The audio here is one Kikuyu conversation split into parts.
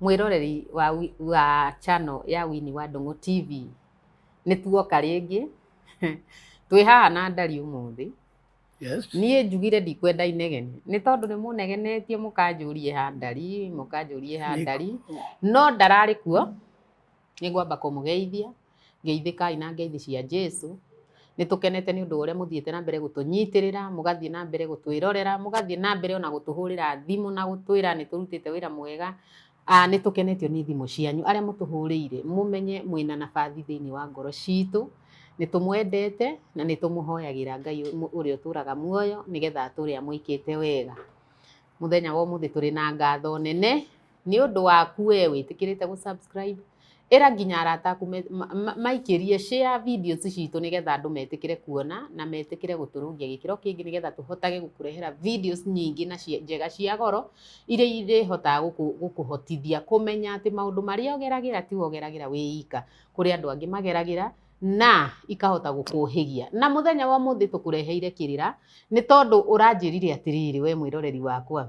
Mwĩroreri wa wi- wa channel ya Winnie wa Ndũng'ũ TV, nĩ tuoka rĩngĩ twĩ haha na ndari ũmũthĩ. Yes. Niĩ njugire ndikwenda inegene nĩ tondũ nĩ mũnegenetie mũkanjũrie ha ndari mũkanjũrie ha Nĩ- ndari no ndararĩ kuo Nĩ ngwamba kũmũgeithia, geithĩkai na ngeithi cia Jesu. Nĩ tũkenete nĩ ũndũ wa ũrĩa mũthiĩte na mbere gũtũnyitĩrĩra, mũgathiĩ na mbere gũtwĩrorera, mũgathiĩ na mbere ona gũtũhũrĩra thimũ na gũtwĩra nĩ tũrutĩte wĩra mwega. Nĩ tũkenetio nĩ thimũ cianyu. Arĩa mũtũhũrĩire, mũmenye mwĩna nabathi thĩinĩ wa ngoro citũ. Nĩ tũmwendete na nĩ tũmũhoyagĩra Ngai ũrĩa ũtũraga muoyo nĩgetha atũre amũĩkĩte wega. Mũthenya wa ũmũthĩ tũrĩ na ngatho nene. nĩ ũndũ waku we wĩtĩkĩrĩte gũ subscribe ĩra nginya arata aku me- ma- ma- maikĩrie share videos citũ nĩgetha andũ metĩkĩre kuona na metĩkĩre gũtũrũngia gĩkĩro kĩngĩ nĩgetha tũhotage gũkũrehera videos nyingĩ na cia- njega cia goro iria irĩhotaga gũkũ- gũkũhotithia kũmenya atĩ maũndũ marĩa ũgeragĩra ti we ũgeragĩra wĩ ika kũrĩ andũ angĩ mageragĩra na ikahota gũkũhĩgia na mũthenya wa ũmũthĩ tũkũreheire kĩrĩra nĩ tondũ ũranjĩrire atĩrĩrĩ we mwĩroreri wakwa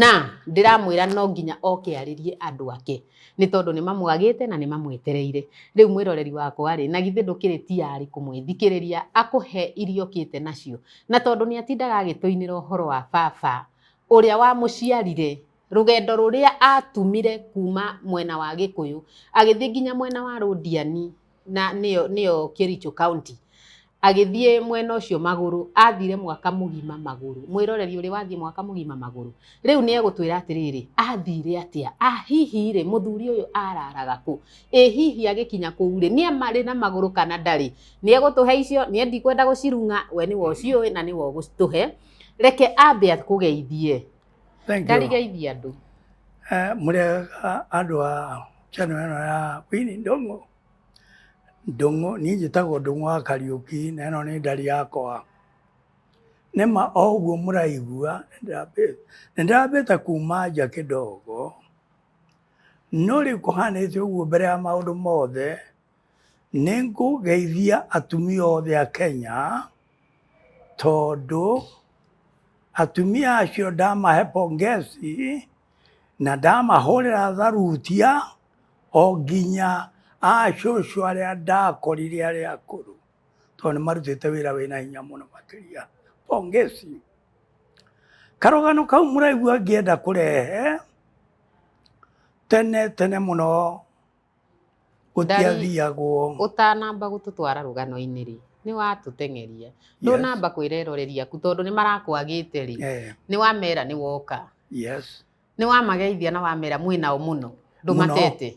na ndĩramwĩra no nginya oke arĩrie andũ ake nĩ tondũ nĩ mamwagĩte na nĩ mamwetereire. Rĩu mwĩroreri wakwa rĩ, na githĩ ndũkĩrĩ tiarĩ kũmwĩthikĩrĩria akũhe iria ũkĩte nacio? Na tondũ nĩ atindaga agĩtũinĩra ũhoro wa baba ũrĩa wamũciarire, rũgendo rũrĩa atumire kuma mwena wa Gĩkũyũ agĩthiĩ nginya mwena wa Rũndiani, na nĩyo nĩyo Kericho County agĩthiĩ mwena ũcio magũrũ athire mwaka mũgima magũrũ mwĩroreri ũrĩ wathiĩ mwaka mũgima magũrũ rĩu nĩ egũtwĩra atĩrĩrĩ athire atĩa ah hihi rĩ mũthuri ũyũ araraga kũ ĩ hihi agĩkinya kũu rĩ nĩ amarĩ na magũrũ kana ndarĩ nĩ egũtũhe icio nĩ ndikwenda gũcirung'a we nĩwe ũciũĩ na nĩwe ũgũtũhe reke ambe akũgeithie Thank you. Ndarigaithi andũ. Eh, mũrega andũ a channel ĩno ya Winnie Ndung'u. Ndung'u, niĩ njĩtagwo Ndung'u wa Kariũki na ĩno nĩ ndari yakwa. Nĩ ma o ũguo mũraigua nĩ ndambĩte kuma nja kĩdogo no rĩu kũhanĩte ũguo mbere ya maũndũ mothe Nĩ ngũgeithia atumia othe a Kenya tondũ atumia acio ndamahe pongezi na ndamahũrĩra tharutia o nginya acũcũ arĩa ndakorire arĩa akũrũ tondũ nĩ marutĩte wĩra wĩna hinya mũno makĩria. Pongezi. Karũgano kau mũraigua ngĩenda kũrehe, tene tene mũno gũtiathiagwo ũtanamba gũtũtwara rũgano-inĩ rĩ nĩ watũteng'eria ndũnamba kwĩra eroreri aku tondũ nĩ marakwagĩte rĩ eh. nĩ wamera nĩ woka yes. nĩ wamageithia na wamera mwĩnao mũno ndũmatete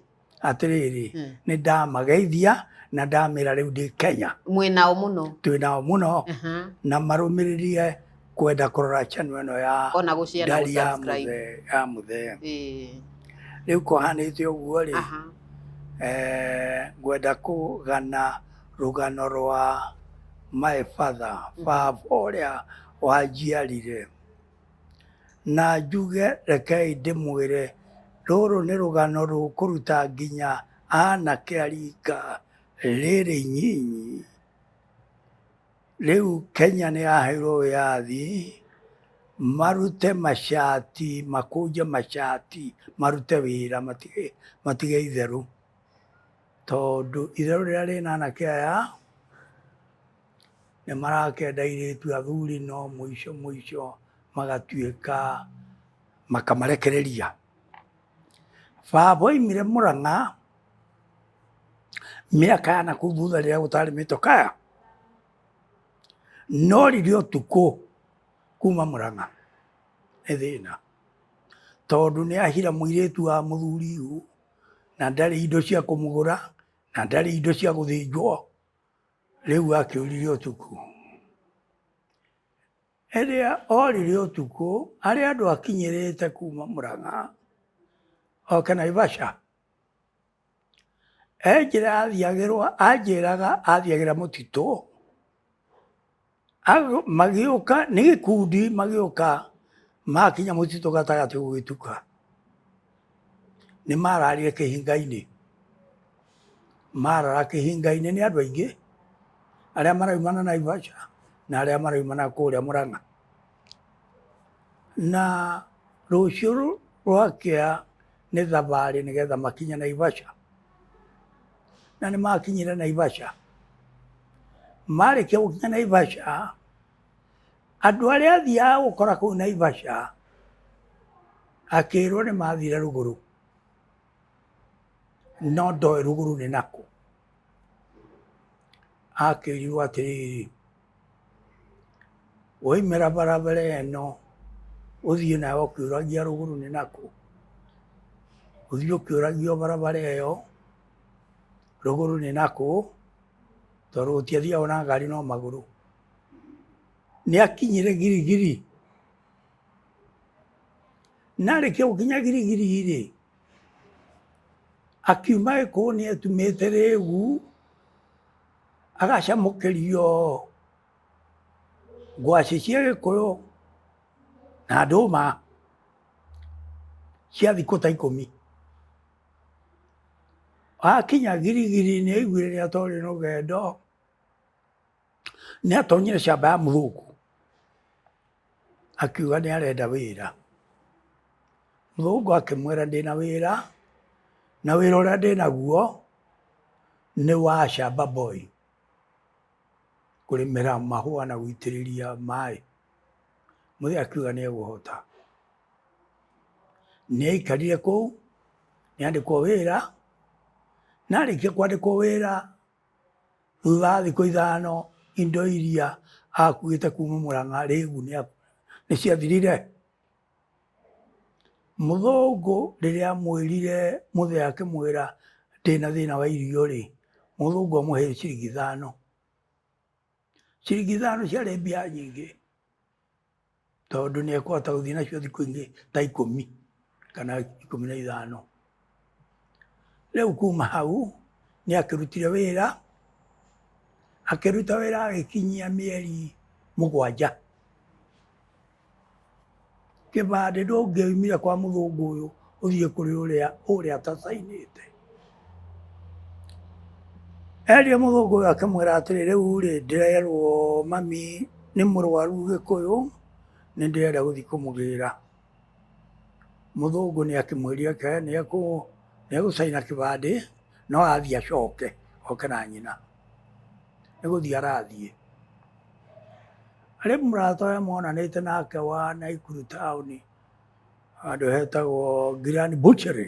atĩrĩrĩ hmm. nĩ ndamageithia na ndamera rĩu ndĩ Kenya mwĩnao mũno twĩnao mũno na marũmĩrĩrie kwenda kurora channel ĩno ya ona gå share na ndari ya gå subscribe mũthee- ya mũthee Eh, rĩu kũhanĩte ũguo rĩ aha. eh, ngwenda kũgana rũgano rwa my father Mhm. baba ũrĩa wanjiarire na njuge rekei ndĩmwĩre rũrũ nĩ rũgano rũkũruta nginya anake arika rĩrĩ nyinyi Rĩu Kenya nĩ yaheirwo wĩyathi marute macati, makũnje macati, marute wĩra matige, matige itherũ. Tondũ itherũ rĩrĩa rĩna anake aya nĩ marakenda airĩtu athuri no mũico mũico magatuĩka makamarekereria. Baba oimire Murang'a mĩaka ya nakuu thutha rĩrĩa gũtarĩ mĩtokaya no riri ũtukũ kuma Murang'a nĩ thĩna tondũ nĩ ahira mũirĩtu wa mũthuri ũyũ na ndarĩ indo cia kũmũgũra na ndarĩ indo cia gũthĩnjwo rĩu akĩũrire ũtukũ. Rĩrĩa orire ũtukũ, harĩ andũ akinyĩrĩte kuma Mũrang'a oke Naivasha, he njĩra athiagĩrwa anjĩraga athiagĩra mũtitũ, magĩũka nĩ gĩkundi magĩũka makinya mũtitũ gatagatĩ gũgĩtuka. nĩ mararire kĩhinga-inĩ marara kĩhinga-inĩ nĩ andũ aingĩ arĩa maraumana Naivasha na arĩa maraumana kũrĩa Mũrang'a na rũciũ rwakĩa nĩ thabarĩ nĩgetha makinye Naivasha na nĩ makinyire Naivasha marĩkia gũkinya Naivasha Andũ arĩa athiaga gũkora kũu Naivasha akĩrwo nĩ mathire rũgũrũ, no ndoĩ rũgũrũ nĩ nakũ. Akĩrirwo atĩrĩrĩ, waimĩra barabara ĩno ũthiĩ nayo ũkĩũragia rũgũrũ nĩ nakũ, ũthiĩ ũkĩũragia o barabara ĩyo rũgũrũ nĩ nakũ, tondũ gũtiathiagwo na ngari no magũrũ. nĩ akinyire girigiri na arĩkia gũkinya girigiri-rĩ akiuma gĩkũũ nĩ etumĩte rĩgu agacamũkĩrio ngwacĩ cia gĩkũyũ na ndũma cia thikũ ta ikũmi akinya girigiri nĩ aiguire nĩ atorĩ rũgendo nĩ atonyire camba ya mũthũngũ akiuga nĩ arenda wĩra mũthũngũ akĩmwĩra ndĩna wĩra na wĩra ũrĩa ndĩnaguo nĩ wa camba boy kũrĩmĩra mahũa na gũitĩrĩria maĩ mũthĩ akiuga nĩ egũhota nĩ aikarire kũu nĩ andĩkwo wĩra na arĩkia kwandĩkwo wĩra Thutha wa thikũ ithano indo iria akuĩte kuma Mũrang'a rĩu nĩciathirire? Mũthũngũ rĩrĩa amwĩrire mũthee akĩmwĩra ndĩna thĩna wa irio-rĩ, mũthũngũ amũhe ciringi ithano. Ciringi ithano ciarĩ mbia nyingĩ. tondũ nĩ ekũhota gũthiĩ nacio thikũ ingĩ ta ikũmi kana ikũmi na ithano rĩu kuma hau nĩ akĩrutire wĩra akĩruta wĩra agĩkinyia mĩeri mũgwanja kĩbandĩ ndũngĩoimire kwa mũthũngũ ũyũ ũthiĩ kũrĩ ũrĩa ũrĩa atacainĩte Eria mũthũngũ ũyũ akĩmwĩra atĩrĩ, rĩu rĩ ndĩrerwo mami nĩ mũrwaru Gĩkũyũ, nĩ ndĩrenda gũthiĩ kũmũgĩra. Mũthũngũ nĩ akĩmwĩrire oke nĩ egũcaina kĩbandĩ no athiĩ acoke oke na nyina, nĩ gũthiĩ arathiĩ. Rĩu mũrata ũyũ monanĩte nake wa Naikuru taũni handũ hetagwo Ngirani Butchery.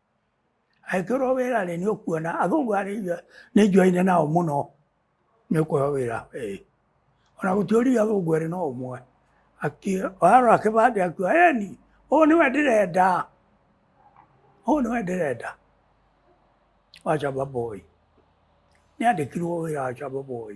Angĩkorwo wĩra rĩ nĩ ũkuona athũngũ aya nĩ njuaine nao mũno nĩ ũkũheo wĩra ĩĩ. Ona gũtiũria athũngũ erĩ no ũmwe arora kĩbandĩ akiuga ĩni ũyũ nĩwe ndĩrenda, ũyũ nĩwe ndĩrenda wa Shaba Boy. Nĩ andĩkirwo wĩra wa Shaba Boy.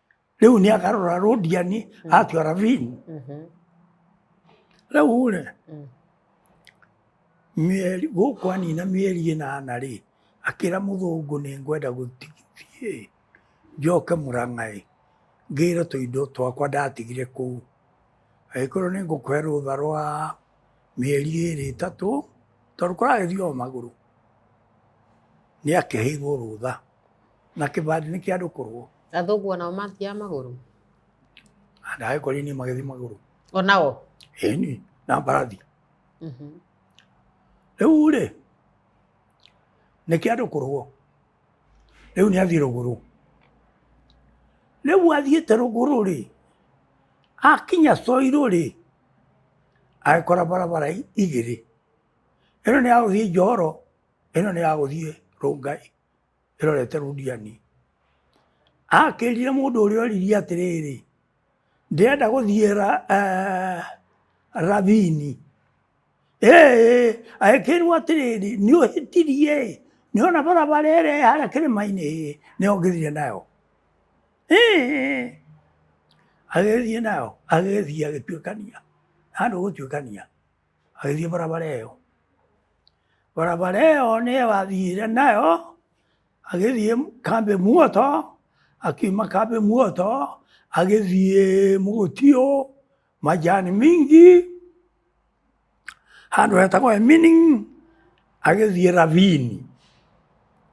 rĩu nĩ akarora rũndiani mm. atua ravini mm-hmm. rĩu rĩ mm. mĩeri gũkũ anina mĩeri ĩnana rĩ akĩra mũthũngũ nĩ ngwenda gũthiĩ njoke mũrang'aĩ ngĩre tũindo twakwa ndatigire kũu agĩkorwo nĩ ngũkũhe rũtha rwa mĩeri ĩrĩ ĩtatũ tondũ kũragĩthiĩ o magũrũ nĩ akĩheirwo rũtha na kĩbandĩ nĩ kĩa andũ kũrũo athũngũ onao mathiaga magũrũ ndaĩ kori niĩ magĩthi magũrũ onao ĩni na mbarathi Mhm. rĩu rĩ nĩ kĩa andũ kũrũo rĩu nĩ athiĩ rũgũrũ rĩu athiĩte rũgũrũ rĩ akinya coirũ rĩ agĩkora barabara i- igĩrĩ ĩno nĩ ya gũthiĩ njohoro ĩno nĩ ya gũthiĩ rũngai ĩrorete Rudiani. Akĩrire mũndũ ũrĩa oririe atĩrĩrĩ, ndĩrenda gũthiĩ ra, uh, Ravini. Ee, agĩkĩrwo atĩrĩrĩ, nĩ ũhĩtirie ĩ, nĩ ona barabara ĩrĩa harĩa kĩrĩma-inĩ ĩ, nĩ ongĩthire nayo. Ee, agĩthiĩ nayo, agĩthiĩ agĩtuĩkania, handũ gũtuĩkania agĩthiĩ barabara ĩyo barabara ĩyo nĩyo athiire nayo agĩthiĩ kambĩ muoto akiuma kambĩ muoto agĩthiĩ mũgũtiũ majani mingi handũ hetagwo emini agĩthiĩ ravini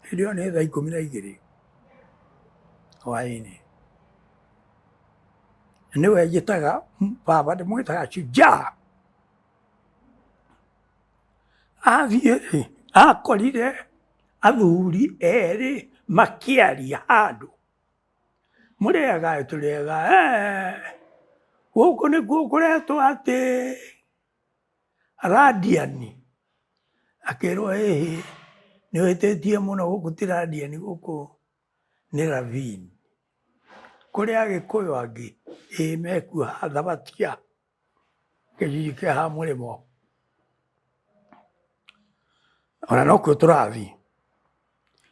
hĩndĩ ĩyo nĩ thaa ikũmi na igĩrĩ hwaĩ-inĩ nĩwe njĩtaga baba ndĩmwĩtaga shujaa Athiĩ rĩ, akorire athuri erĩ makĩaria handũ, mũrĩega ĩ, tũrĩega ee, gũkũ nĩkuo kũretwo atĩ Radiani, akĩrwo ĩhĩ, nĩũhĩtĩtie mũno gũkũ ti Radiani gũkũ nĩ Ravine. Kũrĩ Agĩkũyũ angĩ ĩĩ mekuo ha Thabatia. gĩcunjĩ kĩa ha mũrĩmo ona nokuo tũrathiĩ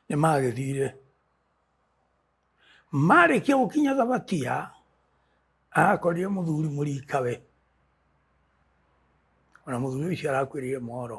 nĩ magĩthire marĩkia gũkinya thabatia arakorire mũthuri mũrikawe ona mũthuri ũcio arakuĩrĩire mohoro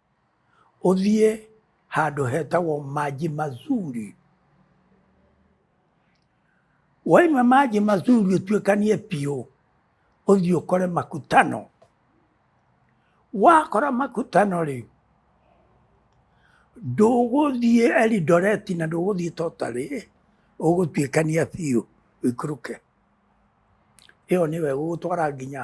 ũthiĩ handũ hetagwo Maji Mazuri. Waima Maji Mazuri ũtuĩkanie biũ, ũthiĩ ũkore makutano. Wakora makutano rĩ, ndũgũthiĩ Elidoreti na ndũgũthiĩ Totarĩ, ũgũtuĩkania biũ ũikũrũke. Ĩyo nĩyo ĩgũgũtwara nginya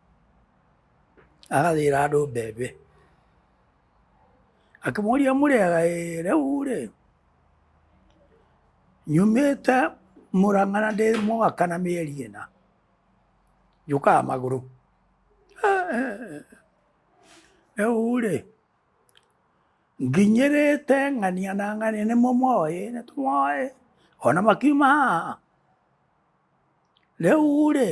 agathĩra andũ mbembe akĩmoria mũrĩaga ĩ rĩu rĩ nyumĩte mũrang'a na ndĩ mwaka na mĩeri ĩna njũkaga magũrũ rĩu rĩ nginyĩrĩte ng'ania na ng'ania nĩmo moĩ nĩ tũmoĩ ona makiuma haha rĩu rĩ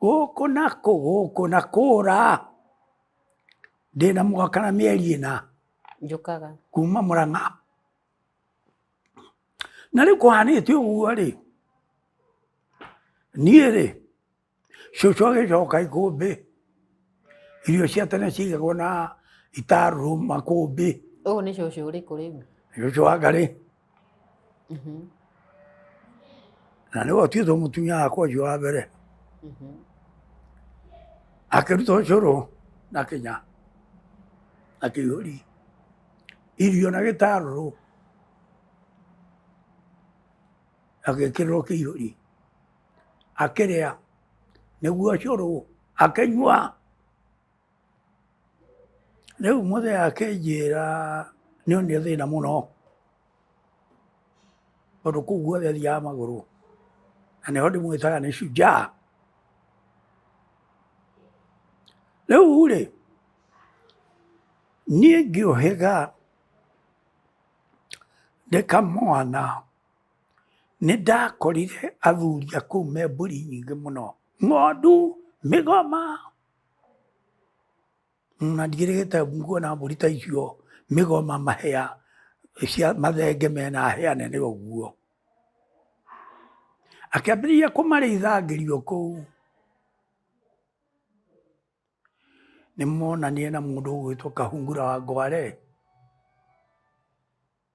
gũkũ na kũ gũkũ na kũra ndĩna mwaka na mĩeri ĩna njũkaga kuma mũrang'a na rĩu kũhanĩte ũguo rĩ niĩ rĩ cũcũ agĩcoka ikũmbĩ irio cia tene cigagwo na itarũ makũmbĩ ũyũ nĩ cũcũ ũrĩkũ rĩu cũcũ wa ngarĩ Mhm, na nĩwe ũtuĩtwo mũtumia wakwa ũcio wa mbere mhm. akĩruta ũcũrũ na kĩnya na kĩihũri irio na gĩtarũrũ agĩkĩrĩrwo kĩihũri akĩrĩa nĩguo cũrũ akĩnyua. Rĩu mũthee akĩnjĩra nĩonire thĩna mũno tondũ kũu guothe thiaga magũrũ na nĩho ndĩmwĩtaga nĩ shujaa. Rĩu-rĩ niĩ ngĩũhĩga ndĩ kamwana. Nĩ ndakorire athuri a kũu me mbũri nyingĩ mũno, ng'ondu, mĩgoma, na ndigĩrĩgĩte nguona mbũri ta icio, mĩgoma, mahĩa, cia mathenge mena hĩa nene ũguo. Akĩambĩrĩria kũmarĩitha ngĩrĩ o kũu. Nĩ monanire na mũndũ ũgwĩtwo Kahungura wa Ngware.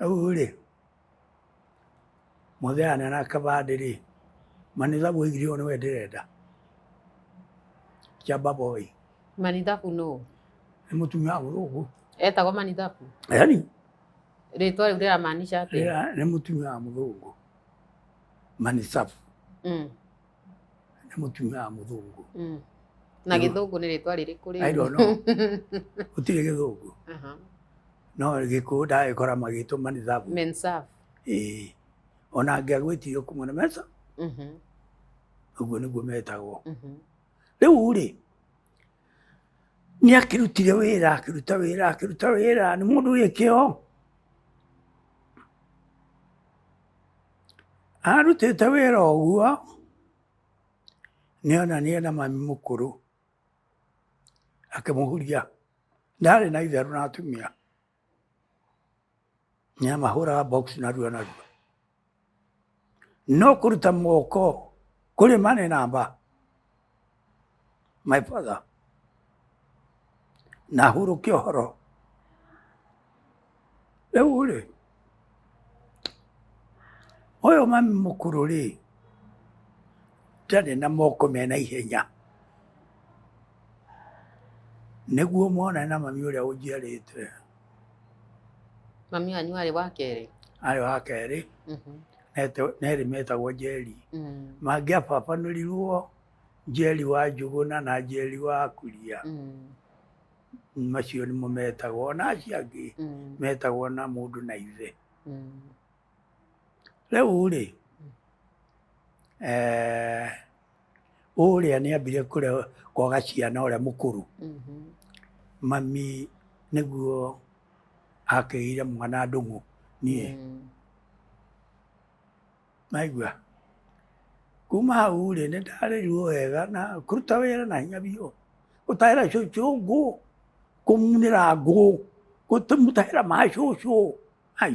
Rĩu-rĩ, mũthee anene a kĩbandĩ-rĩ, manithabu oigire ũũ nĩwe ndĩrenda, Kĩamba Boy. Manithabu nũũ? Nĩ mũtumia wa mũthũngũ. Etagwo Manithabu? Yaani. Rĩtwa rĩu rĩramaanisha atĩa? Nĩ mũtumia wa mũthũngũ, Manithabu. Mm. nĩ mũtumia wa mũthũngũ Mm. na Nĩ- gĩthũngũ nĩ rĩtwa rĩrĩkũ I don't know. gũtirĩ gĩthũngũ Aha. no gĩkũũ ndagĩkora magĩtũma nĩ thabu Mensaf. Ĩĩ. ona ngĩagwĩtio kuma na mesa Mhm, ũguo nĩguo metagwo mhm. rĩu rĩ nĩ akĩrutire wĩra akĩruta wĩra akĩruta wĩra nĩ mũndũ wĩ kĩo Arutĩte wĩra ũguo, nĩona nĩ ena mami mũkũrũ, akĩmũhuria. Ndarĩ na itherũ na atumia, nĩamahũraga box narua narua. No kũruta moko kũrĩ ma nĩ namba. my father na hurũkia ũhoro rĩu rĩ ũyũ mami mũkũrũ rĩ ndarĩ na moko mena ihenya nĩguo mwana na mami ũrĩa ũnjiarĩte Mami wanyu arĩ wa kerĩ. arĩ wa kerĩ Mhm. nete- nerĩ metagwo njeri Mm. mangĩababanũrirwo njeri wa njũgũna na njeri wa kuria Mm. macio nĩmo metagwo na acio angĩ Mm. metagwo na mũndũ na ithe Mm. rĩu rĩ eh, ũrĩa nĩ ambire kũrĩa kwa gaciana ũrĩa mũkũrũ Mhm. mami nĩguo akĩire mwana ndũng'ũ niĩ Mm. maigua kuma hau rĩ nĩ ndarĩrirwo wega na kũruta wĩra na hinya biũ gũtahĩra cũcũ ngũ kũmunĩra ngũ gũtũmũtahĩra ma cũcũ ai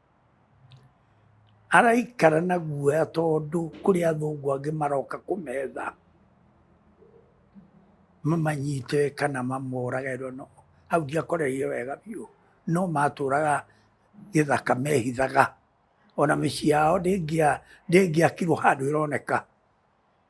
Araikara na guoya tondũ kũrĩ athũngũ angĩ maroka kũmetha mamanyite kana mamorage. Hau ndiakoreire wega biũ no matũraga gĩthaka mehithaga. Ona mĩciĩ yao ndĩngĩakirwo handũ ĩroneka.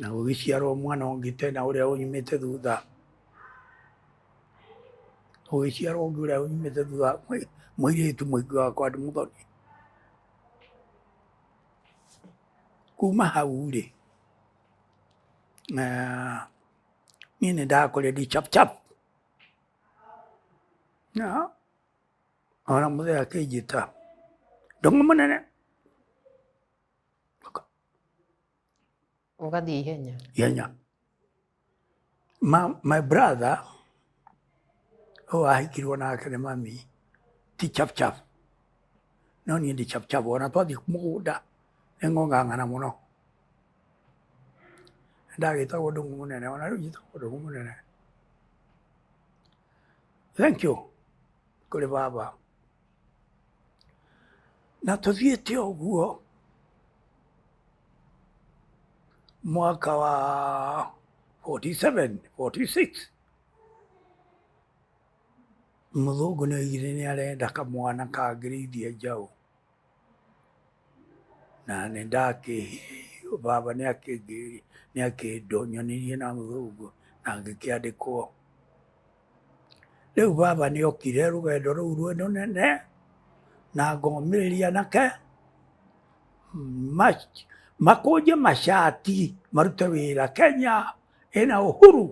Na gũgĩciarwo mwana ũngĩ tena ũrĩa ũnyumĩte thutha, gũgĩciarwo ũngĩ ũrĩa ũnyumĩte thutha, mũirĩtu mũingĩ wa kwa mũthoni. Kuma hau-rĩ, niĩ nĩ ndakũrire ndĩ chap chap na ona mũthee akĩnjĩta ndũng'ũ mũnene. Ũgathiĩ ihenya. ihenya ma, my brother ũyũ ahikirwo nake nĩ mami ti chapchap no niĩ ndi chapchap ona twathiĩ mũgũnda nĩ ng'ong'ang'ana mũno ndagĩtagwo ndũng'ũ mũnene ona rĩu njĩtagwo ndũng'ũ mũnene thank you kũrĩ baba Na tũthiĩte ũguo mwaka wa 47, 46 mũthũngũ nĩ oigire nĩ arenda kamwana kangĩrĩithia njaũ na nĩ ndakĩ baba nĩ akĩngĩrĩria nĩ akĩndonyonirie na mũthũngũ na ngĩkĩandĩkwo rĩu baba nĩ okire rũgendo rũu rwĩ rũnene na ngomĩrĩria nake ma- makũnje macati marute wĩra kenya ĩna ũhuru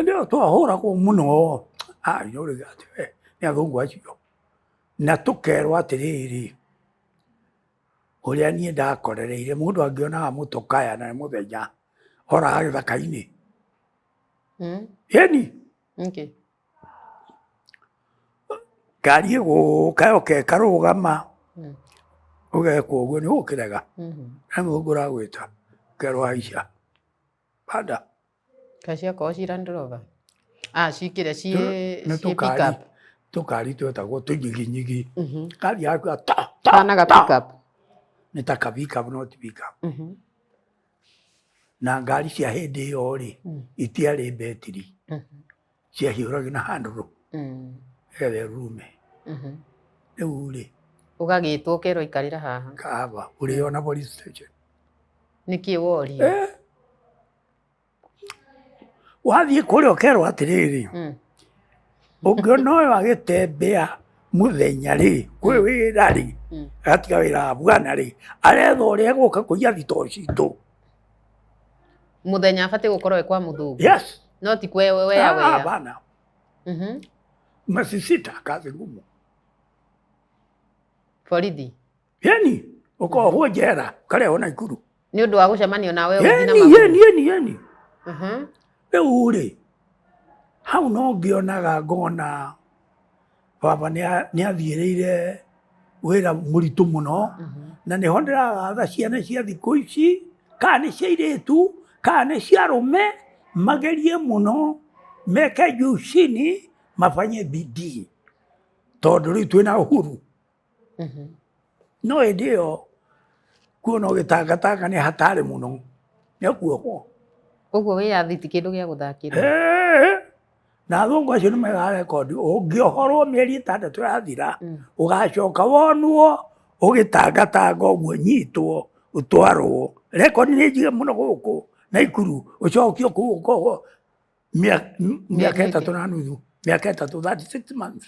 ndio twahũragwo mũno anyũrĩga atĩ we nĩ athũngũ acio na tũkerwo atĩrĩrĩ ũrĩa niĩ ndakorereire mũndũ angĩonaga mũtũkaya na nĩ mũthenya oraga gĩthaka-inĩ mm. ĩni okay. ngari ĩgũka yoka ĩkarũgama mm. ũgekwo ũguo nĩ ũkĩrega mm-hmm. na mũthũngũ ũragwĩta kerwo haica banda kaciakorwo cirandrova ah, cikĩrĩa ciĩ pickup tukari twetagwo tunyiginyigi mhm. kari yaku ta ta ta nĩ ta kabika no ti bika mhm. na ngari cia hĩndĩ ĩyo rĩ mm. itiarĩ betiri mm -hmm. ciahiũragio na handũrũ mm. ewe rume mm -hmm. rĩu rĩ ũgagĩtwo ũkerwo ikarĩra haha kaba ũrĩ ona police station nĩkĩ wori eh. wathiĩ kũrĩa ũkerwo atĩrĩrĩ mm. ũngĩona ũyũ agĩtembea mũthenya rĩ kwĩ mm. wĩra rĩ mm. agatiga wĩra wa bwana rĩ aretha ũrĩa egũka kũiya thito citũ muthenya abatiĩ gũkorwo e kwa mũthũngũ yes no ti kwe we ya we ah, bana mhm masisita kazi ngumu borithi Yeni, ũkohwo njera, ũkarehwo Naikuru. nĩ ũndũ wa gũcemania na wewe ũthiĩ na Yeni, magũrũ. yeni, yeni, yeni. Mhm. Rĩu rĩ, hau no ngĩonaga ngona baba nĩ athiĩrĩire wĩra mũritũ mũno na nĩ ho ndĩragatha ciana cia thikũ ici kana nĩ cia irĩtu kana nĩ cia rũme magerie mũno meke jucini mabanye bidii tondũ rĩu twĩna ũhuru Mhm. No hĩndĩ ĩyo kuo no gĩtangatanga nĩ hatarĩ mũno nĩ akuohwo. Ũguo wĩyathiti kĩndũ gĩa gũthakĩra. Na athũngũ acio nĩ megaga rekondi ũngĩohorwo mĩeri ĩtandatũ yathira mm. ũgacoka wonwo ũgĩtangatanga ũguo nyitwo ũtwarwo rekondi nĩ njige mũno gũkũ na ikuru ũcokio kũu ũkohwo mĩaka ĩtatũ na nuthu mĩaka ĩtatũ 36 months.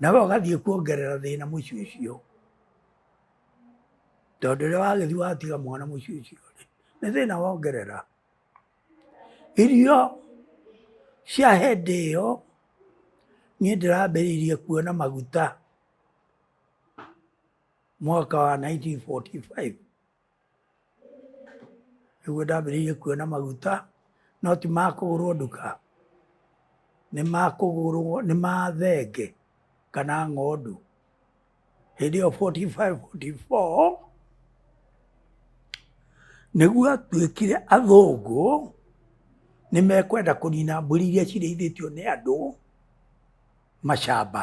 nawe ũgathiĩ kuongerera thĩna mũciĩ ũcio tondũ rĩrĩa wagĩthiĩ watiga mwana mũciĩ ũcio rĩ nĩ thĩna wongerera irio cia hĩndĩ ĩyo niĩ ndĩrambĩrĩirie kuona maguta mwaka wa 1945 nĩguo ndambĩrĩirie kuona maguta no ti ma kũgũrwo nduka nĩ ma kũgũrwo nĩ ma thenge kana ng'ondu hĩndĩ ĩyo 45 44 nĩguo atuĩkire athũngũ nĩ mekwenda kũnina mbũri iria cirĩithĩtio nĩ andũ macamba.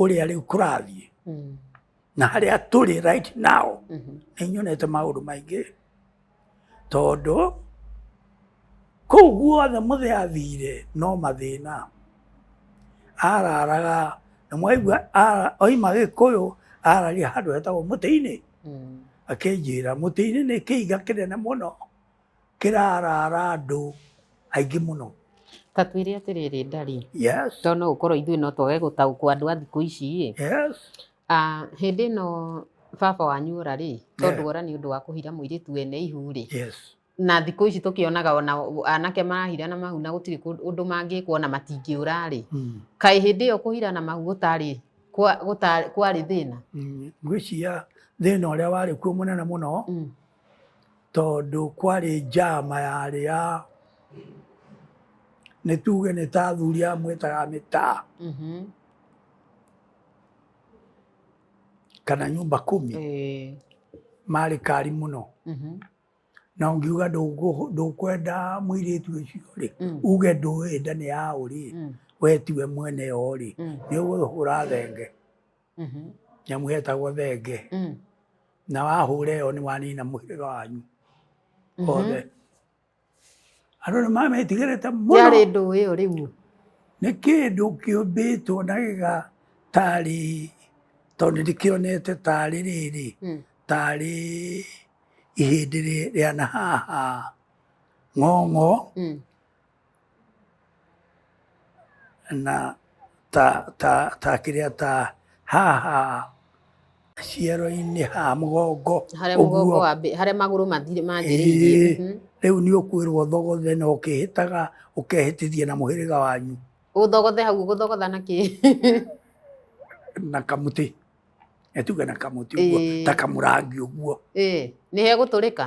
ũrĩa rĩu kũrathiĩ mm. na harĩa tũrĩ right now mm -hmm. nĩ nyonete maũndũ maingĩ tondũ kũu guothe mũthĩ athire no mathĩna araraga na mwaigua oima gĩkũyũ araria handũ hetagwo mũtĩ-inĩ mm. akĩnjĩra mũtĩ-inĩ nĩ kĩiga kĩnene mũno kĩraraara andũ aingĩ mũno. Ta twĩre atĩrĩrĩ Ndari, yes. tondũ no gũkorwo ithuĩ no twage gũtaũkwo andũ a thikũ ici ĩ. Yes. Uh, hĩndĩ ĩno baba wanyu ũra rĩ, tondũ yeah. ũra nĩ ũndũ wa kũhira mũirĩtu wene ihu rĩ. Yes na thikå ici tå kä onaga ona anake marahira na mahu na gå tirä å ndå mangä kwo na matingä å rarä hmm. kaä hä ndä ä yo kå hira na mahu gå tarä kwarä thä na hmm. ngwä cia thä na å rä a warä kuo må nene må no hmm. tondũ kwarĩ njama yarĩ ya nĩ tuge nĩ ta athuri aya mwĩtaga mĩtaa Mhm. kana nyũmba kumi Eh, marĩ kari mũno mhm. na ũngiuga ndũngũ- ndũkwenda mũirĩtu ũcio rĩ Mm. uge ndũĩ nda nĩ ya ũrĩ Mm. we tiwe mwene yo rĩ Mm. nĩ ũgũhũra thenge Mhm. nyamũ yetagwo thenge Mm. na wahũra ĩyo nĩ wanina mũhĩrĩga wanyu Mhm. othe andũ nĩ mametigĩrĩte mũno yarĩ ndũ ĩyo rĩu nĩ kĩndũ kĩũmbĩtwo na gĩga tarĩ tondũ ndĩkĩonete tarĩ rĩrĩ Mm. tarĩ ihĩndĩ rĩ- rĩa na haha ng'ong'o Mm. na ta, ta, ta kĩrĩa ta haha ciero-inĩ ha mũgongo harĩa mũgongo wa mbere harĩa magũrũ manjĩrĩirie mhm. rĩu nĩ ũkwĩrwo thogothe na ũkĩhĩtaga ũkehĩtithia na mũhĩrĩga wanyu ũthogothe hau gũthogotha na kĩ na kamuti etuge na kamuti ũguo ta kamurangi ũguo nĩ he gũtũrĩka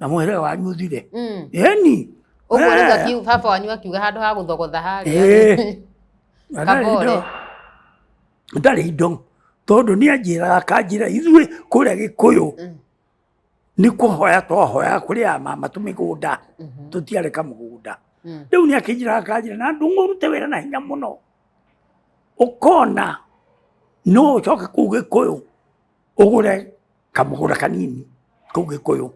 namo ere wanyu uthire Mm. eni Ũguo Eh. nĩguo akiu- baba wanyu akiuga handũ ha gũthogotha harĩa. Eh. Na ndarĩ Kabore. indo- ndarĩ indo tondũ nĩ anjĩraga kanjĩra ithuĩ kũrĩa gĩkũyũ Mm. nĩ kũhoya twahoyaga kũrĩ a mama tũmĩgũnda Mhm. tũtiarĩ kamũgũnda Mm. rĩu nĩ akĩnjĩraga kanjĩra na ndũng'ũ ũrute wĩra na hinya mũno ũkona no ũcoke kũu gĩkũyũ ũgũre kamũgũra kanini kau gĩkũyũ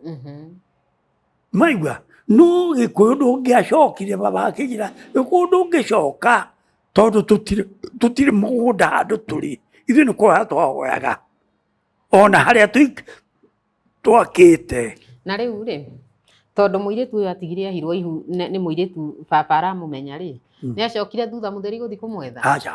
maigua no gĩkũyũ ndũngĩacokire baba akĩnjĩra gĩkũyũ ndũngĩcoka tondũ tũtirĩ mũgũnda handũ tũrĩ ithuĩ nĩ kũhoya twahoyaga ona harĩa twakĩte na rĩu rĩ tondũ mũirĩtu ũyũ atigire ahirwo ihu nĩ mũirĩtu baba aramũmenya rĩ mm. nĩ acokire thutha mũtheri gũthiĩ kũmwetha aca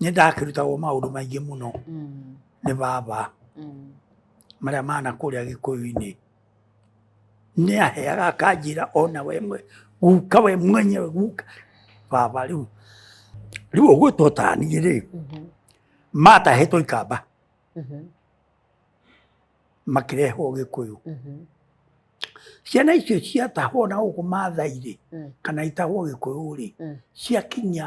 nĩ ndakĩrutagwo maũndũ maingĩ mũno mm. nĩ baba mm. marĩa mana kũrĩa gĩkũyũ-inĩ nĩ aheaga akanjĩra ona we guka we mwenyewe guka baba rĩu rĩu ũguo tũtanire rĩ mm-hmm. matahetwo ikamba mm-hmm. makĩrehwo gĩkũyũ Mhm. ciana icio ciatahwo na gũkũ mathai-rĩ Mm. kana itahwo gĩkũyũ-rĩ Mm. ciakinya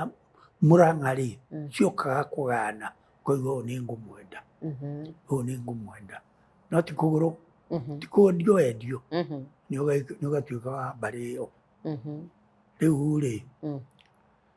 mũrang'a-rĩ Mm. ciokaga kũgana koiga ũyũ nĩ ngũmwenda Mhm. ũyũ nĩ ngũmwenda no ti kũgũrũ Mhm. ti kwendio endio Mhm. nĩ ũga- nĩ ũgatuĩka wa mbarĩ ĩyo Mhm. rĩu-rĩ Mm.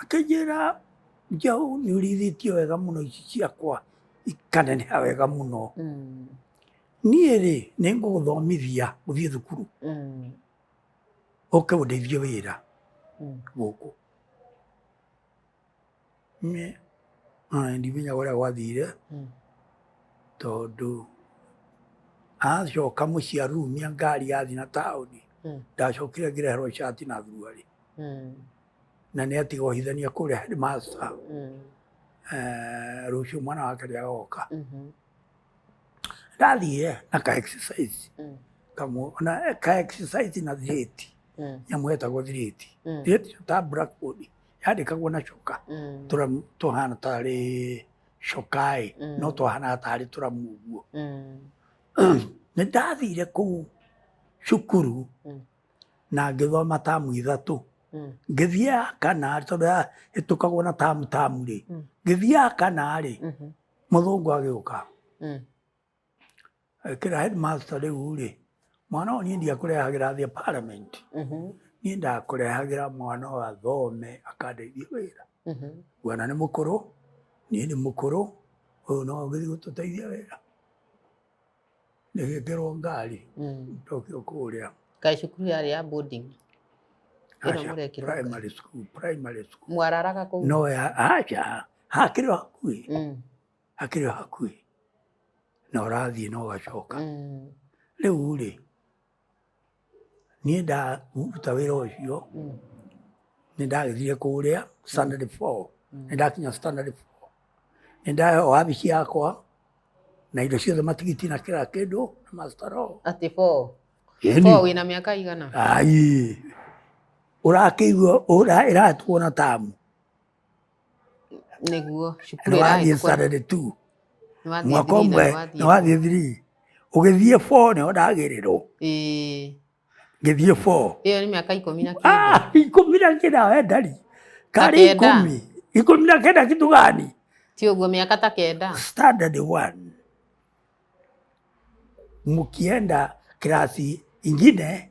Akĩnjĩra, Njaũ nĩ ũrĩithĩtio wega mũno ici ciakwa ikaneneha wega mũno. Mm. Niĩ rĩ, nĩ ngũgũthomithia gũthiĩ thukuru Mm. ũke ũndeithie wĩra Mm. gũkũ. Niĩ ona ndimenyaga ũrĩa gwathire Mm. tondũ acoka mũciĩ arurumia ngari yathiĩ na taũni Mm. ndacokire ngĩreherwo cati na thuruarĩ Mm. na nä atiga å hithania kå rä a headmaster Mm. eh, rå cio mwana wake rä agoka Mhm. ndathiä na ka exercise Mm. kamwe ona eh, ka exercise na thirĩti Mm. nyamå yetagwo thirĩti Mm. thirĩti ta blackboard yandä kagwo na coka Mm. tũramu tũhana tarĩ cokaĩ Mm. no twahanaga tarĩ tũramu ũguo Mm. nä ndathire kå u cukuru Mm. na ngĩthoma tamu ithatũ mm. ngĩthiĩ ya kana tondũ ĩtũkagwo na tamu tamu rĩ mm. ngĩthiĩ ya kana rĩ mhm. mũthũngũ agĩũka mm. kĩra headmaster rĩu rĩ mwana ũyũ niĩ ndiakũrehagĩra thĩ parliament mhm. niĩ ndakũrehagĩra mwana ũyũ athome akandeithia wĩra mhm. mwana nĩ mũkũrũ niĩ nĩ mũkũrũ ũyũ no ũgĩthiĩ gũtũteithia wĩra Nĩgĩkĩrwo ngari mm. tokio kũrĩa. Kaĩ cukuru yarĩ ya boarding? Primary school, primary school. Mwararaga kũu? No, acha, hakĩrĩ o hakuhĩ. Mm. Hakĩrĩ o hakuhĩ. Na ũrathiĩ na ũgacoka. Mm. Rĩu rĩ, niĩ ndaruta wĩra ũcio mm. nĩ ndagĩthire kũrĩa standard four mm. nĩ ndakinya standard four nĩ ndahe wabici yakwa na indo ciothe matigiti na kĩra kĩndũ na mastaro atĩ four four wĩna mĩaka igana ai ũrakĩigua ĩratuona tamu nĩguo cukuru ĩrathiĩ standard two mwaka ũmwe nĩ wathiĩ three ũgĩthiĩ four nĩho ndagĩrĩrwo ngĩthiĩ four ĩyo nĩ mĩaka ikũmi na kenda ah, ikũmi na kenda we ndari karĩ ikũmi ikũmi na kenda kitu gani ti ũguo mĩaka ta kenda standard one mkienda kirasi ingine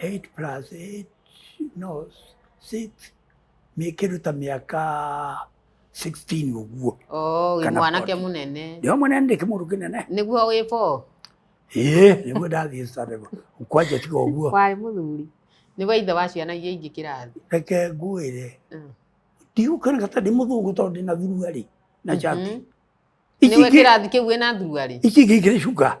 8 plus 8, no, 6, mĩkĩruta mĩaka 16 ũguo oh, wĩ mwanake mũnene ndio mũnene ndĩkĩ mũndũ kĩnene nĩguo wĩ bo ĩĩ nĩguo ndathiĩ sarego kwanja tiga ũguo kwarĩ mũthuri nĩguo ithe wa ciana iria ingĩ kĩrathi reke ngwĩre mm. ndigũkĩrĩka ta ndĩ mũthũngũ tondũ ndĩ na thuruarĩ na njati mm-hmm. nĩwe kĩrathi kĩu wĩna thuruarĩ ici ingĩ ikĩrĩ cuka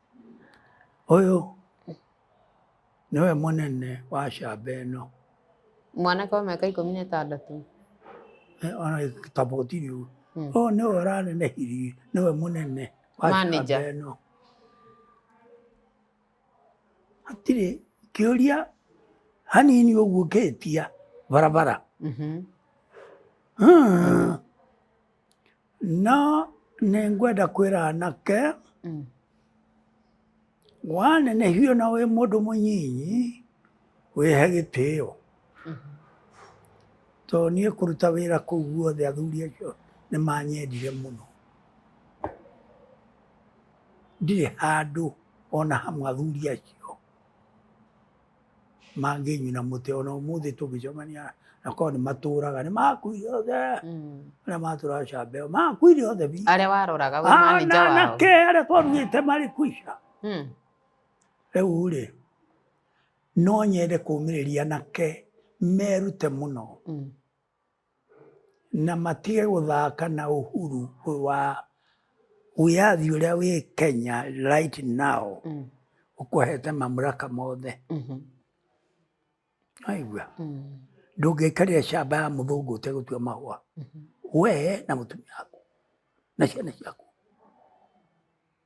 Ũyũ nĩwe mũnene wa camba ĩno. Mwanake wa mĩaka ikũmi na ĩtandatũ. Ona gĩtaboti rĩu. Hmm. Ũyũ nĩwe ũranenehirie, nĩwe mũnene wa camba ĩno. Hatirĩ kĩũria hanini ũguo ngĩtia barabara. Mm -hmm. No nĩ ngwenda kwĩra anake mm. wanenehio na wĩ mũndũ mũnyinyi wĩhe gĩtĩo mm-hmm. to niĩ kũruta wĩra kũu guothe athuri acio nĩ manyendire mũno ndirĩ handũ ona hamwe athuri acio mangĩnyuna mũtĩ ona ũmũthĩ tũngĩcemania na korwo nĩ matũraga nĩ makuire othe arĩa matũraga camba ĩyo makuire othe biũ. arĩa waroraga wĩ manager wao anake arĩa twarugĩte marĩ kuica Mm. rĩu rĩ no nyende kũmĩrĩria anake merute mũno Mm. Na matige gũthaka na ũhuru wa wĩyathi ũrĩa wĩ Kenya right now mm. ũkũhete mamlaka mothe mm-hmm. aigua mm. ndũngĩikarĩra shamba ya mũthũngũ ũtegũtua mahũa mm-hmm. we na mũtumia waku na ciana ciaku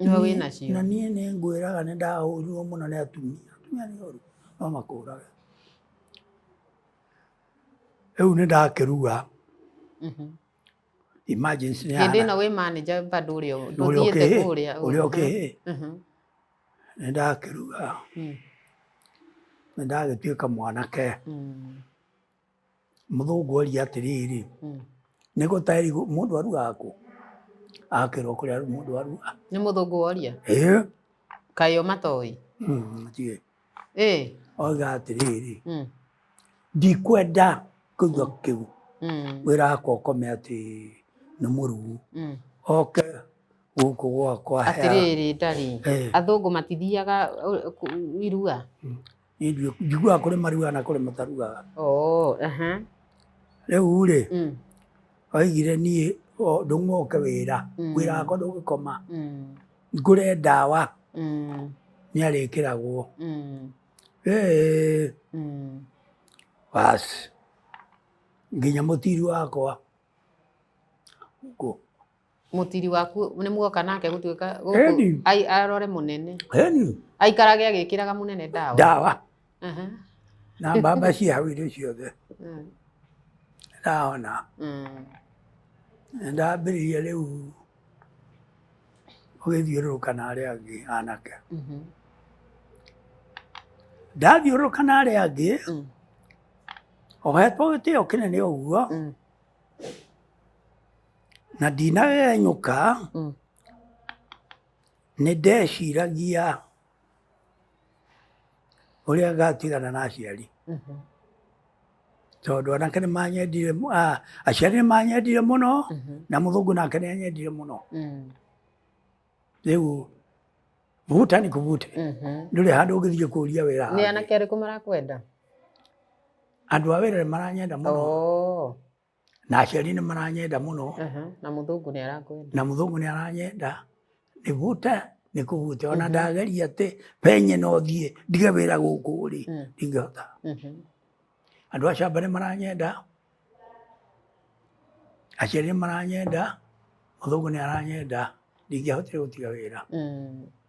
Nĩwe wĩ nacio. Na niĩ nĩ ngwĩraga nĩ ndahũrirwo mũno nĩ atumia. Atumia nĩ oru, no makũũrage. Rĩu nĩ ndakĩruga. Mhm. Emergency nĩ Hĩndĩ ĩno wĩ manager bado ũrĩa ndũthiĩte kũrĩa. Ũrĩa ũkĩ. Mhm. Nĩ ndakĩruga. Mm. Nĩ ndagĩtuĩka mwanake. Mm. Mũthũngũ oria atĩrĩrĩ, hmm. nĩ gũtaĩri mũndũ arugaga kũ? Akĩrwo kũrĩa mũndũ arugaga. Nĩ mũthũngũ woria? Ĩĩ. Kaĩ o matoĩ? Hmm, Tiĩ. Ĩĩ. Oiga atĩrĩrĩ, hmm. ndikwenda kũigua kĩu. Wĩra wakwa ũkome atĩ nĩ mũrugu. Oke gũkũ gwakwa. Atĩrĩrĩ, ndarĩ. Athũngũ matithiaga uh, irua? Ndio njiguaga kũrĩ maruaga na kũrĩ mataruaga. Oh, aha. Rĩu rĩ, Mm, oigire niĩ o, ndũng'oke wĩra Mm. wĩra wakwa ndũgĩkoma mm, ngũre ndawa mm, nĩ arĩkĩragwo mm, Ĩĩ, mm. basi nginya mũtiru wakwa Ngũ- mũtiri waku nĩ muoka nake gũtuĩka gũkũ- Eni. ai- arore mũnene Eni, aikarage agĩkĩraga mũnene ndawa ndawa Aha. na mbamba cia hau irĩ ciothe Mm. ndahona Mm. Nĩ ndambĩrĩria rĩu gũgĩthiũrũrũka na arĩa angĩ anake Mhm. ndathiũrũrũka na arĩa angĩ Mm. ohetwo gĩtĩo kĩnene ũguo Mm. Na ndinagegenyũka, Mm. nĩ ndeciragia ũrĩa ngatigana na aciari. Mhm. Tondũ anake nĩ manyendire, mu- ah, aciari nĩ manyendire mũno, Mhm. na mũthũngũ nake nĩ anyendire mũno. Mm. Rĩu vuta ni kuvute, Mhm. ndũrĩ handũ ũngĩthiĩ kũria wĩra Nĩ hangĩ. anake arĩkũ marakwenda? Andũ a wĩra nĩ maranyenda mũno. Oh. na aciari nĩ maranyenda mũno Aha, na mũthũngũ nĩ arakwenda na mũthũngũ nĩ aranyenda nĩvute nĩ kũvute ona ndageria atĩ penye no thiĩ ndige wĩra gũkũ rĩ Mm. ndingĩhota Mhm. andũ a camba nĩ maranyenda aciari nĩ maranyenda mũthũngũ nĩ aranyenda ndingĩahotire gũtiga wĩra Mm.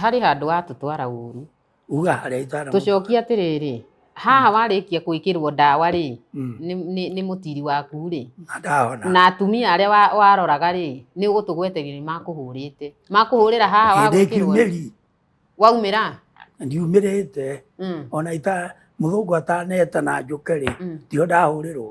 harĩ handũ watũtwara ũru uga harĩa itwara tũcokie atĩrĩrĩ haha warĩkia gwĩkĩrwo ndawa rĩ Mm. nĩ- nĩ nĩ mũtiri waku rĩ ndahona na atumia arĩa wa- waroraga rĩ nĩ ũgũtũgweterio nĩ makũhũrĩte makũhũrĩra haha hĩndĩ wagwĩkĩrwo rĩ, kiumĩri waumĩra ndiumĩrĩte Mm, ona ita mũthũngũ ataneta na njũke rĩ mm. ndio ndahũrĩrwo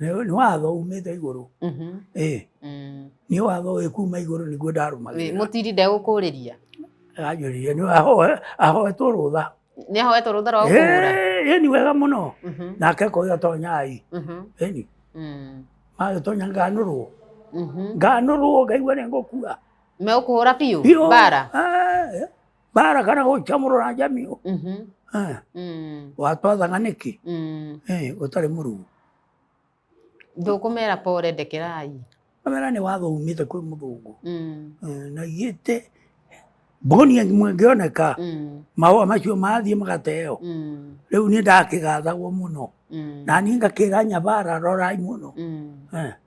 nĩ watho umĩte igũrũ mhm. eh. mm. nĩ watho wĩ kuma igũrũ nĩguo ndarũmagĩrĩra mũtiri ndegũkũrĩria anjũririe nĩ ahoetwo rũtha nĩ ahoetwo rũtha rwa gũkũhũra eh, ni wega mũno mhm. nake koiga tonyai mhm. ni mm. magĩtonya nganũrwo nganũrwo ngaigua nĩ ngũkua megũkũhũra biũ bara eh, barakana gocha morora njamigo Mhm. Eh, Mm. gwatwathana nĩkĩ Mm. Eh, gũtarĩ mũrugu ndũkũmera pore ndekerai kamera nĩ watho umĩte kwĩ mũthũngũ Mm. Eh, na igĩte mboni mũngĩoneka Mm. mahũa macio mathiĩ magateo Mm. rĩu niĩ ndakĩgathagwo mũno Mm. na niĩ ngakĩra nyabara rorai mũno Mm. Eh,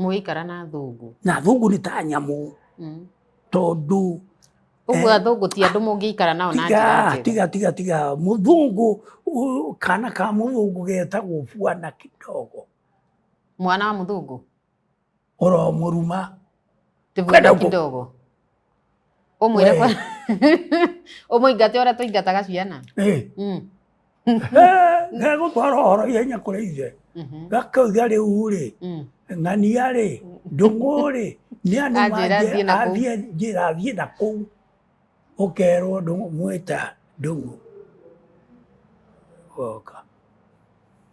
mũgĩikara na athũngũ na athũngũ nĩ ta nyamũ mm. tondũ Ũguo eh, athũngũ ti andũ mũngĩikara nao na njĩra njega. Tiga tiga tiga mũthũngũ kana ka mũthũngũ getagwo bwana kidogo. Mwana wa mũthũngũ? Oro mũruma. Ti bwana kidogo. Ũmwĩre kwa... Ũmũingate ũrĩa tũingataga ciana. Ĩ. Mm. Gegũtwara ũhoro ihenya kũrĩ ithe. Mhm. Gakauga rĩu-rĩ, Mm. ng'ania-rĩ, ndũng'ũ-rĩ, nĩ andũ Anjĩra mangĩ- thiĩ na kũu. athiĩ njĩra thiĩ na kũu. Ũkerwo ndũng'ũ mwĩta ndũng'ũ. Goka.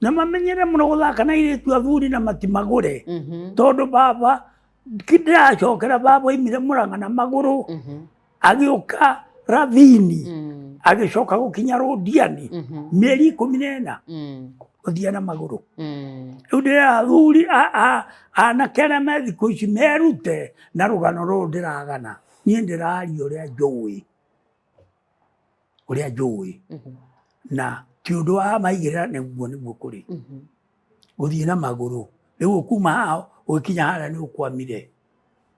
na mamenyere mũno gũthaka na airĩtu athuri na matimagũre Mhm. tondũ baba ndĩracokera baba oimire mũranga na magũrũ Mhm. agĩũka ravini Mm. agĩcoka gũkinya rũndiani Mhm. mĩeri ikũmi na ĩna Mm. gũthiĩ na magũrũ Mm. rĩu ndĩra athuri a- a- anake arĩa me thikũ ici merute na rũgano rũrũ ndĩragana niĩ ndĩraria ũrĩa njũĩ ũrĩa njũĩ mhm. na ti ũndũ wa maigĩrĩra nĩguo nĩguo kũrĩ mhm. gũthiĩ na magũrũ rĩu ũkuma haha ũgĩkinya harĩa nĩ ũkwamire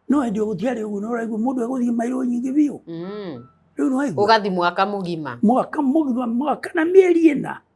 no hĩndĩ ũgũtiarĩ ũguo nĩ ũraigua mũndũ egũthiĩ mairũ nyingĩ biũ mm. rĩu nĩwaigua ũgathi mwaka mũgima mwaka mũgima mwaka na mĩeri ĩna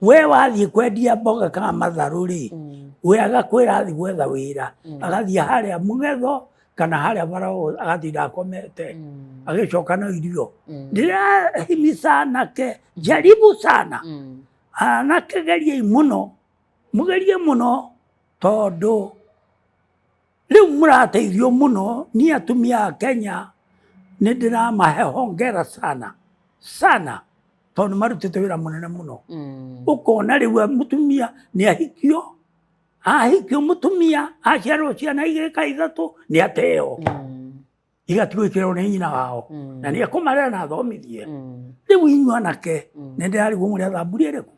we wathiĩ kwendia mboga kana matharũ rĩ mm. we agakwĩra athi gwetha wĩra mm. agathiĩ harĩa mũgetho kana harĩa marao agatinda akomete mm. agĩcoka na irio mm. ndĩrahimica anake jaribu sana mm. anake geriei mũno mũgerie mũno tondũ Rĩu mũrateithio mũno niĩ atumia a Kenya nĩ ndĩramahe hongera sana sana tondũ nĩ marutĩte wĩra mũnene mũno mm. ũkona rĩu mũtumia nĩ ahikio ahikio mũtumia aciarwo ciana igĩka ithatũ nĩ ateo mm. igatigwo ikirwo nĩ nyina wao Mm. na nä kåmarera na athomithie Mm. rä u inyuä anake Mm. nä ndä rarigwo må rä a thamburi ä rä kå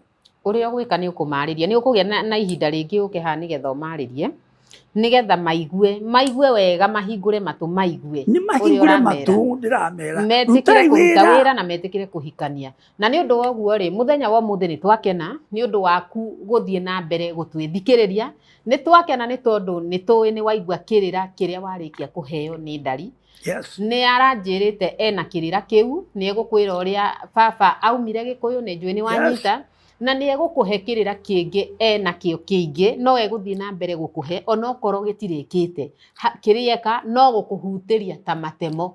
ũrĩa ũgwĩka nĩ ũkũmarĩria nĩ ũkũgĩa na, na ihinda rĩngĩ ũke haha nĩgetha ũmarĩrie nĩgetha maigue maigue wega mahingũre matũ maigue nä mahingå re Ũrĩa ũramera. matå ndä ramera metĩkĩre kũruta wĩra na metĩkĩre kũhikania Na nĩ ũndũ wa ũguo-rĩ, mũthenya wa ũmũthĩ nĩ twakena nĩ ũndũ waku gũthiĩ na mbere gũtwĩthikĩrĩria. Nĩ twakena nĩ tondũ nĩ tũĩ nĩ waigua kĩrĩra kĩrĩa warĩkia kũheo nĩ Ndari. Yes. Nĩ aranjĩrĩte ena kĩrĩra kĩu, nĩ egũkwĩra ũrĩa baba aumire Gĩkũyũ, nĩ njũĩ nĩ wanyita, na nĩ egũkũhe kĩrĩra kĩngĩ ena kĩo kĩingĩ, no egũthiĩ na mbere gũkũhe onokorwo gĩtirĩkĩte. Ha- Kĩrĩa eka no gũkũhutĩria ta matemo.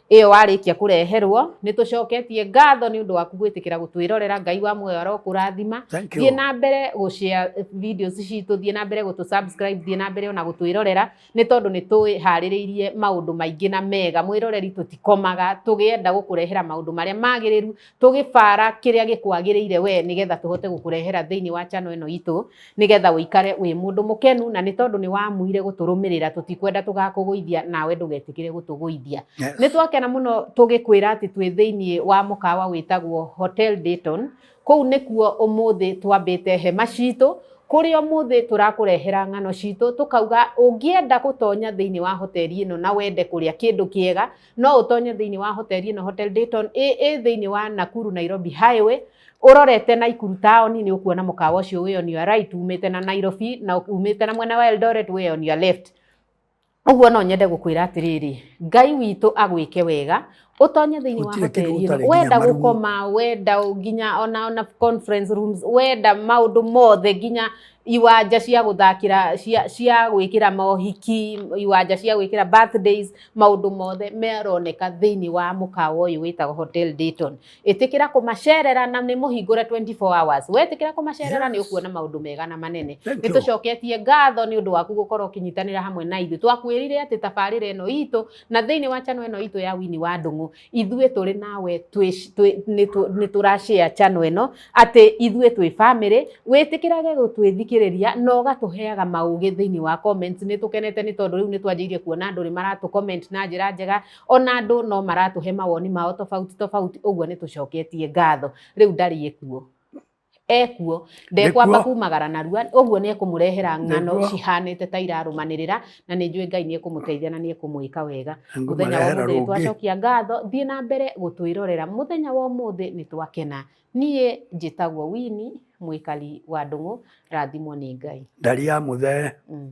ĩyo warĩkia kũreherwo nĩ tũcoketie ngatho nĩ ũndũ waku gwĩtĩkĩra gũtwĩrorera ngai wa muoyo arokũrathima Thank you. thiĩ na mbere gũshare videos citũ thiĩ na mbere gũtũ subscribe thiĩ na mbere ona gũtwĩrorera nĩ tondũ nĩ twĩharĩrĩirie maũndũ maingĩ na mega mwĩroreri tũtikomaga tũgĩenda gũkũrehera maũndũ marĩa magĩrĩru tũgĩbara kĩrĩa gĩkwagĩrĩire we nĩgetha tũhote gũkũrehera thĩinĩ wa channel ĩno itũ nĩgetha ũikare wĩ mũndũ mũkenu na nĩ tondũ nĩ wamuire gũtũrũmĩrĩra tũtikwenda tũgakũgũithia nawe ndũgetĩkĩre gũtũgũithia Yes. nĩ twakena mũno tũgĩkwĩra atĩ twĩ thĩinĩ wa mũkawa wĩtagwo hotel dayton kũu nĩkuo ũmũthĩ twambĩte hema citũ kũrĩa ũmũthĩ tũrakũrehera ng'ano citũ tũkauga ũngĩenda gũtonya thĩinĩ wa hoteli ĩno na wende kũrĩa kĩndũ kĩega No ũtonye thĩinĩ wa hoteli ĩno Hotel Dayton ĩ ĩ thĩinĩ wa Nakuru Nairobi Highway ũrorete Naikuru taoni nĩ ũkuona mũkawa ũcio wĩ on your right umĩte na Nairobi na umĩte na mwena wa Eldoret wĩ on your left ũguo no nyende gũkwĩra atĩrĩrĩ ngai witũ agwĩke wega ũtonye thĩinĩ wa Gũtirĩ hoteli kĩndũ ĩno gũtarĩ wenda nginya marigũ. gũkoma wenda nginya ona ona conference rooms wenda maũndũ mothe nginya iwanja cia guthakira cia cia gwikira mohiki iwanja cia gwikira birthdays maundu mothe meroneka thiini wa mukawa uyu witagwo hotel Dayton itikira kumacerera na ni muhingure 24 hours wetikira kumacerera ni ukuona maundu mega na manene Thank ni you. tucoketie ngatho ni undu waku gukorwo ukinyitanira hamwe na ithu twakwirire ati tabarira ino itu na thiini wa channel ino itu ya wini wa ndungu ithuĩ tũrĩ nawe nĩ tũrashare channel ĩno atĩ ithuĩ twĩ family wĩtĩkĩrage gũtwĩthikĩrĩria na ũgatũheaga maũgĩ thĩinĩ wa comments nĩ tũkenete nĩ tondũ rĩu nĩ twanjĩirie kuona andũ nĩ maratũ comment na njĩra njega ona andũ no maratũhe mawoni mao tofauti tofauti ũguo nĩ tũcoketie ngatho rĩu ndariĩ kuo ekuo ndekwamba Nĩkuo. kumagara narua ũguo nĩ ekũmũrehera ng'ano Nĩkuo. cihanĩte ta irarũmanĩrĩra na nĩ njũĩ ngai nĩ ekũmũteithia na nĩ ekũmwĩka wega mũthenya wa ngũmarehera ũmũthĩ rũngĩ twacokia ngatho thiĩ na mbere gũtwĩrorera mũthenya wa ũmũthĩ nĩ twakena niĩ njĩtagwo wini mwĩkari wa ndũng'ũ rathimwo nĩ ngai ndari ya mũthee mm.